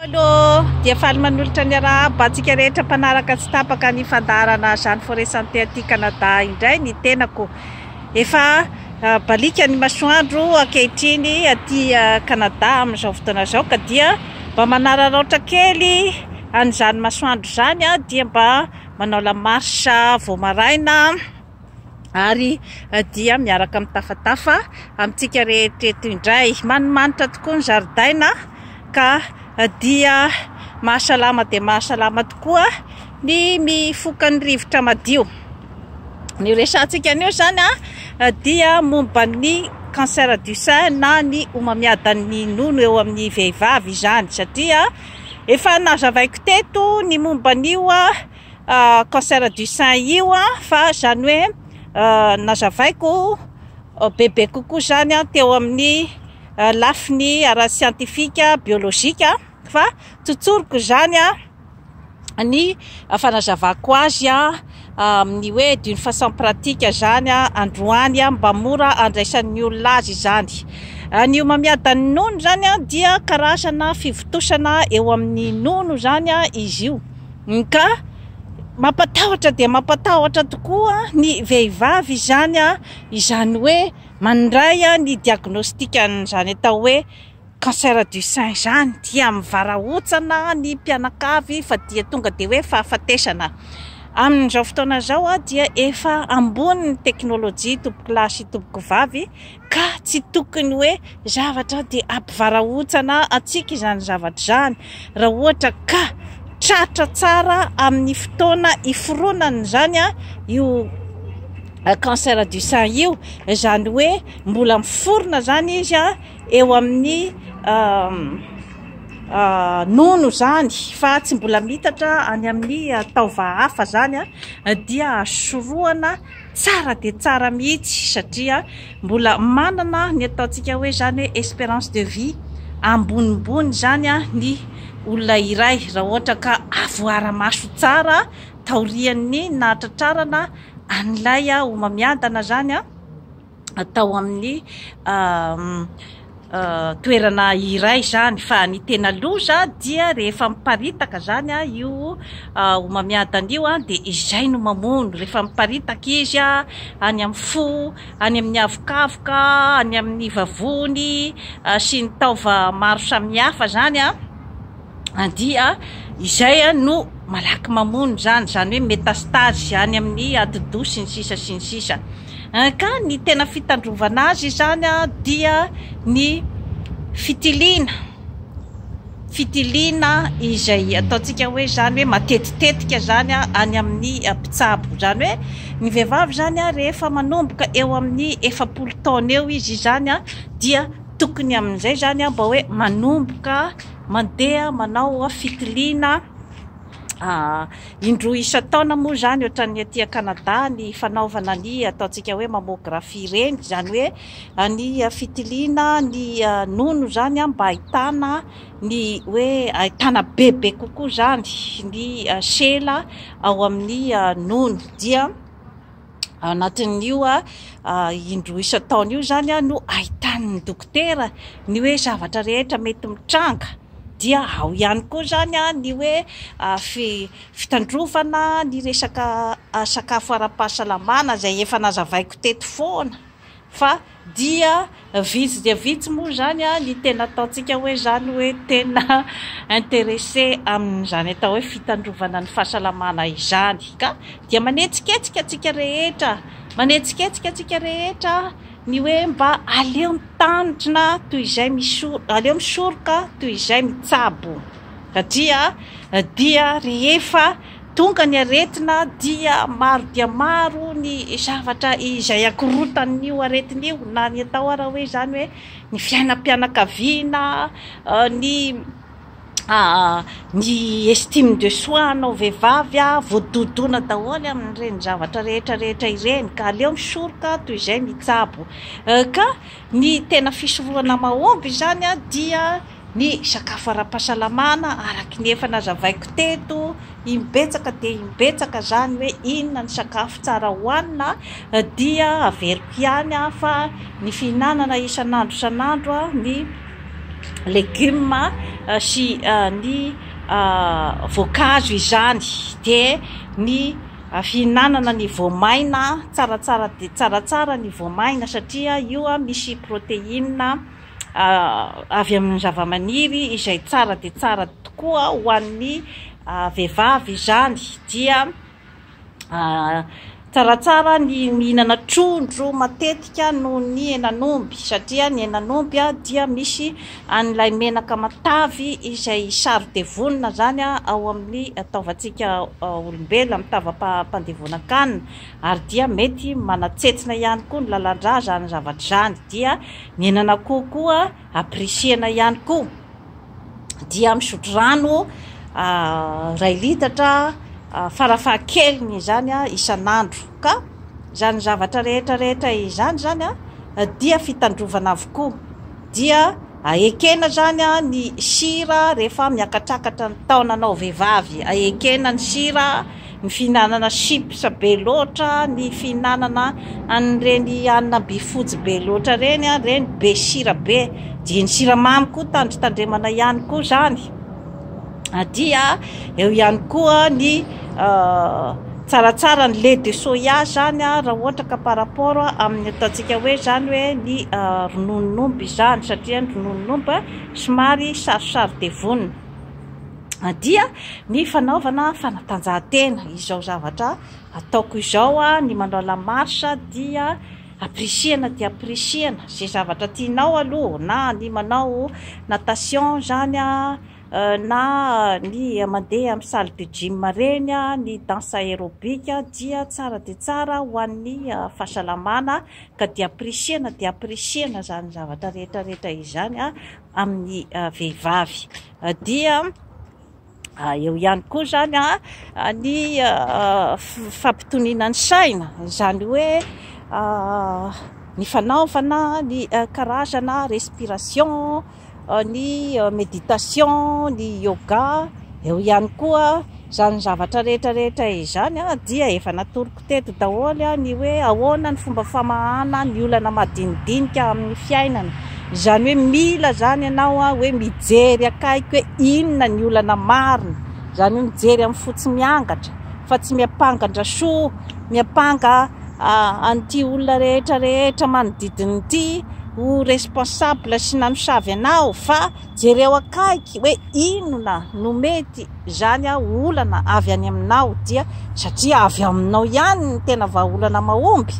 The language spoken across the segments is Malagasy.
Paolo dia faly manolotra ny arahaba antsika rehetra mpanaraka tsy tapaka ny fandaharana Jeanne Forêt Santé aty Canada indray ny tenako. Efa ah, balika ny masoandro ankehitriny aty ah, Canada amin'izao fotoana izao ka dia mba manararaotra kely an'izany masoandro izany aho dia mba manao la marche vao maraina. ary dia miaraka mitafatafa amintsika rehetra eto indray. Manimanitra tokoa ny zaridaina ka dia mahasalama dia mahasalama tokoa ny mifoka ny rivotra madio. Ny resahantsika anio izany dia momba ny cancer du sein na ny homamiadan'ny nono eo amin'ny vehivavy izany satria efa nazavaiko teto ny momba an'io cancer du sein io fa izany hoe nazavaiko bebe kokoa izany teo amin'ny lafiny ara-siantifika biolojika fa tsotsoriko izany ny fanazavako azy amin'ny hoe d'une façon pratique izany androany mba mora andraisan'ny olona azy izany. Ny homamiadan'ny nono izany dia karazana fivontosana eo amin'ny nono izany izy io. MK, Mampatahotra dia mampatahotra tokoa ny vehivavy izany izany hoe mandray ny diagnostic an'izany atao hoe cancer du sein izany dia mivarahontsana ny mpianakavy fa dia tonga dia hoe fahafatesana. Amin'izao fotoana izao dia efa ambony ny teknolojia tompokolahy sy tompokovavy. ka tsy tokony hoe zavatra dia ampivarahontsana antsika izany zavatra izany raha ohatra ka tratra tsara amin'ny fotoana iforonany izany io cancer du sein io izany hoe mbola miforona izany izy a eo amin'ny nono izany fa tsy mbola mitatra any amin'ny taova hafa izany dia sorohana Tsara dia tsara mihitsy satria mbola manana ny ataontsika hoe izany hoe espérance de vie ambonimbony izany ny olona iray raha ohatra ka avoara-maso tsara taorian'ny nahatratrarana an'ilay homamiadana izany. tao amin'ny toerana iray izany fa ny tena loza dia rehefa miparitaka izany io homamiadana io dia izay no mamono rehefa miparitaka izy any amin'ny fo, any amin'ny havokavoka, any amin'ny vavony sy ny taova maro samihafa izany dia izay no malaky mamono izany, izany hoe métastase any amin'ny atidoha sy ny sisa sy ny sisa. Ka ny tena fitandrovana azy izany dia ny fitiliana, fitiliana izay ataontsika hoe izany hoe matetitetika izany any amin'ny mpitsabo. Izany hoe ny vehivavy izany rehefa manomboka eo amin'ny efapolo taona eo izy izany dia tokony amin'izay izany mba hoe manomboka mandeha manao fitiliana Indroa isan-taona moa izany ohatran'ny aty Canada ny fanaovana ny ataontsika hoe mammografie ireny, izany hoe ny fitiliana ny nono izany mba ahitana ny hoe ahitana bebe kokoa izany ny sela ao amin'ny nono dia anatin'io indroa isan-taona io izany no ahitan'ny dokotera ny hoe zavatra rehetra mety mitranga, dia ao ihany koa izany ny hoe fitandrovana ny resaka sakafo ara-pahasalamana izay efa nazavaiko teto foana. fa dia vitsy dia vitsy moa izany ny tena ataontsika hoe izany hoe tena interesse amin'izany atao hoe fitandrovana ny fahasalamana izany ka dia manetsiketsika antsika rehetra manetsiketsika antsika rehetra ny hoe mba aleo mitandrina toy izay misoroka, aleo misoroka toy izay mitsabo satria dia rehefa Tonga ny aretina dia maro dia maro ny zavatra izay akorontan'io aretina io na ny atao ara hoe izany hoe ny fiainam-pianakaviana, ny ny estime de soi anao vehivavy voadodona daholo amin'ireny zavatra rehetra rehetra ireny ka aleo misoroka toy izay mitsabo ka ny tena fisorohana mahomby izany dia Ny sakafo ara-pahasalamana araka ny efa nazavaiko teto imbetsaka dia imbetsaka izany hoe inona ny sakafo tsara hohanina dia averiko ihany fa ny fihinanana isan'andro isan'andro ny legioma sy ny voankazo izany dia ny fihinanana ny voamaina tsaratsara dia tsaratsara ny voamaina satria io misy proteina avy amin'ny zavamaniry izay tsara dia tsara tokoa ho an'ny vehivavy izany dia tsaratsara ny mihinana trondro matetika noho ny henan'omby satria ny henan'omby dia misy an'ilay menaka matavy izay saro-devonina izany ao amin'ny taovantsika olombelona amin'ny tavam-pandevonan-kanina ary dia mety manatsetsina ihany koa ny lalan-drà izany zavatra izany dia Nenan'akoho koa apprécier-na ihany koa dia misotro rano iray litatra farafahakeliny izany isan'andro ka izany zavatra rehetra rehetra izany izany dia fitandrovana avokoa dia ekena izany ny sira rehefa miakatrakatra ny taonanao vehivavy ekena ny sira Ny fihinanana chips be loatra, ny fihinanana an'ireny hanina be fojy be loatra ireny, ireny be sira be, dia ny siramamy koa tandrotandremana ihany koa izany, dia eo ihany koa ny tsaratsara ny lait de soya izany raha ohatra ka par rapport amin'ny ataontsika hoe izany hoe ny rononon'omby izany satria ny rononon'omby somary sarosarodevonina. dia ny fanaovana fanatanjahantena, izao zavatra ataoko izao, ny manao la marche dia apprecier-na dia apprecier-na ze zavatra tianao aloha, na ny manao natation zany, na ny mandeha amin'ny salle de gym reny, ny danse aerobic dia tsara dia tsara ho an'ny fahasalamana ka dia apprecier-na dia apprecier-na zany zavatra rehetra rehetra izany amin'ny vehivavy. Dia eo ihany koa izany ny fampitoniana ny saina, izany hoe ny fanaovana ny karazana respiration, ny méditation, ny yoga, eo ihany koa izany zavatra rehetra rehetra izany dia efa natory. Teto daholo ny hoe ahoana ny fomba famahana ny olana madinidinika amin'ny fiainana. Izany hoe mila izany ianao hoe mijery akaiky hoe inona ny olana marina. Izany hoe mijery amin'ny fo tsy miangatra fa tsy miampanga-dRasoa, miampanga an'ity olona rehetra rehetra manodidina ity ho responsable sy nanosavy anao fa. Jereo akaiky hoe inona no mety izany olana avy any aminao dia satria avy aminao ihany ny tena vahaolana mahomby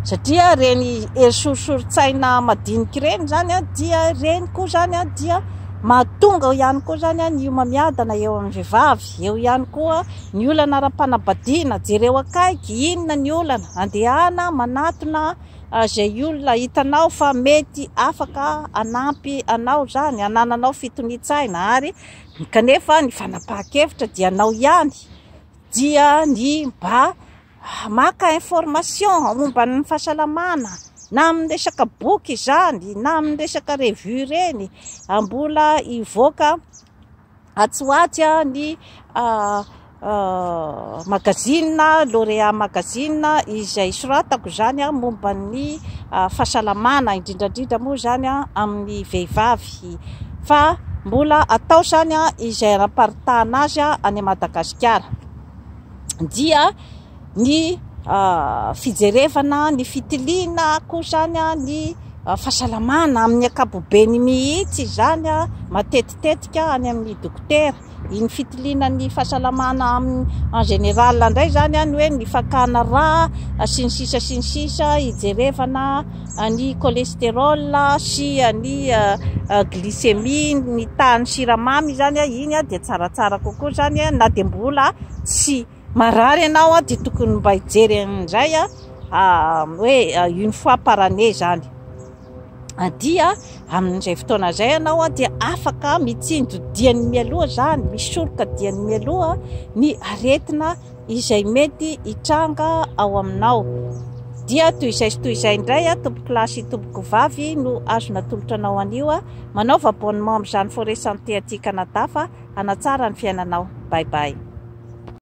satria ireny hery sorisorin-tsaina madinika ireny izany dia ireny koa izany dia mahatonga ao ihany koa izany ny homamiadana eo amin'ny vehivavy, eo ihany koa ny olana ara-panambadiana, jereo akaiky inona ny olana, andehana manatona. Izay olona hitanao fa mety afaka hanampy anao izany, hanananao fitonian-tsaina ary kanefa ny fanapahan-kevitra dia anao ihany, dia ny mba maka information momba ny fahasalamana na amin'ny resaka boky izany na amin'ny resaka revue ireny mbola hivoaka. Atsy ho atsy ny magazine Lauréat Magazine izay soratako izany momba ny fahasalamana, indrindra indrindra moa izany amin'ny vehivavy fa mbola atao izany izay anam-paritahana azy any Madagasikara dia ny fijerevana ny fitiliana koa izany ny fahasalamana amin'ny ankapobeny mihitsy izany matetitetika any amin'ny dokotera iny fitiliana ny fahasalamana amin'ny en général indray izany any hoe ny fakana rà sy ny sisa sy ny sisa hijerevana ny cholestérol sy ny glycémie ny tahan'ny siramamy izany iny dia tsaratsara kokoa izany na dia mbola tsy Marary ianao an, dia tokony mba hijery indray an, hoe une fois par année izany dia amin'izay fotoana izay ianao an dia afaka mitsinjo diany mialoha izany, misoroka diany mialoha ny aretina izay mety hitranga ao aminao. Dia toy izay sy toy izay indray an, tompoko lahy sy tompoko vavy no azo natolotra anao an'io an, manaova abonnement amin'izany Forest Santé aty Canada fa hanatsara ny fiainanao. Bye bye.